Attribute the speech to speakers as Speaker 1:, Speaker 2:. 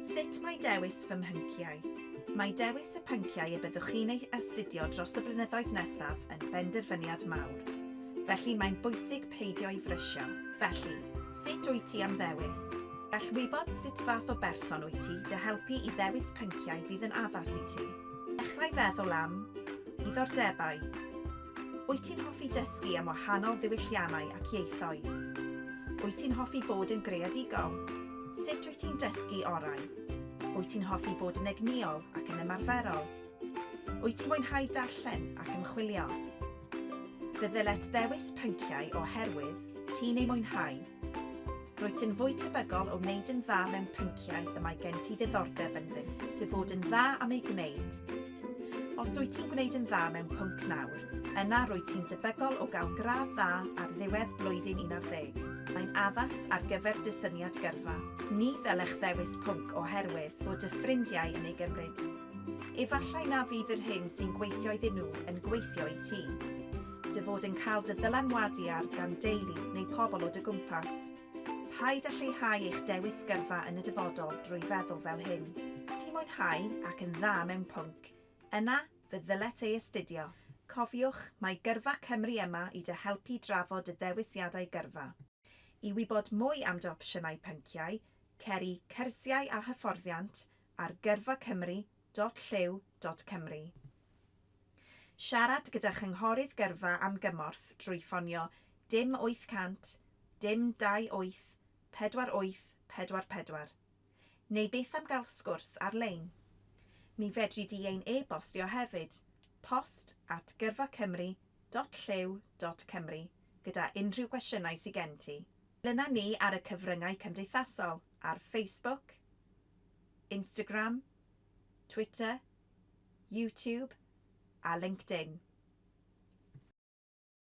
Speaker 1: Sut mae dewis fy mhync-iau? Mae dewis y pynciau y byddwch chi'n eu astudio dros y blynyddoedd nesaf yn benderfyniad mawr. Felly mae'n bwysig peidio â'i frysio. Felly, sut wyt ti am ddewis? Gall wybod sut fath o berson wyt ti dy helpu i ddewis pynciau fydd yn addas i ti. Dechrau feddwl am, Diddordebau. Wyt ti'n hoffi dysgu am wahanol ddiwylliannau ac ieithoedd? Wyt ti'n hoffi bod yn greadigol? Sut wyt ti'n dysgu orau? Wyt ti'n hoffi bod yn egnïol ac yn ymarferol? Wyt ti'n mwynhau darllen ac ymchwilio? Fe ddylet ddewis pynciau oherwydd ti'n eu mwynhau. Rwyt ti'n fwy tebygol o wneud yn dda mewn pynciau y mae gen ti ddiddordeb ynddynt. Dy fod yn dda am eu gwneud. Os rwyt ti'n gwneud yn dda mewn pwnc nawr, yna rwyt ti'n debygol o gael gradd dda ar ddiwedd blwyddyn un ar ddeg. Mae'n addas ar gyfer dy syniad gyrfa. Ni ddylech ddewis pwnc oherwydd fod dy ffrindiau yn ei gymryd. Efallai na fydd yr hyn sy'n gweithio iddyn nhw yn gweithio i ti. Dy fod yn cael dy ddylanwadu ar gan deulu neu pobl o dy gwmpas. Paid â lleihau eich dewis gyrfa yn y dyfodol drwy feddwl fel hyn, 'Ti'n mwynhau ac yn dda mewn pwnc, yna fe ddylet ei astudio. Cofiwch, mae Gyrfa Cymru yma i dy helpu drafod dy ddewisiadau gyrfa. I wybod mwy am dy opsiynau pynciau, cer i Cyrsiau a Hyfforddiant ar gyrfacymru.org. www.llyw.cymru. Siarad gyda Chynghorydd Gyrfa am gymorth drwy ffonio dim 800 dim 28 48 44. Neu beth am gael sgwrs ar-lein? Mi fedri di ein e-bostio hefyd, post at gyrfacymru.llyw.cymru, gyda unrhyw gwestiynau sy gen ti. Dyna ni ar y cyfryngau cymdeithasol, ar Facebook, Instagram, Twitter, YouTube a LinkedIn.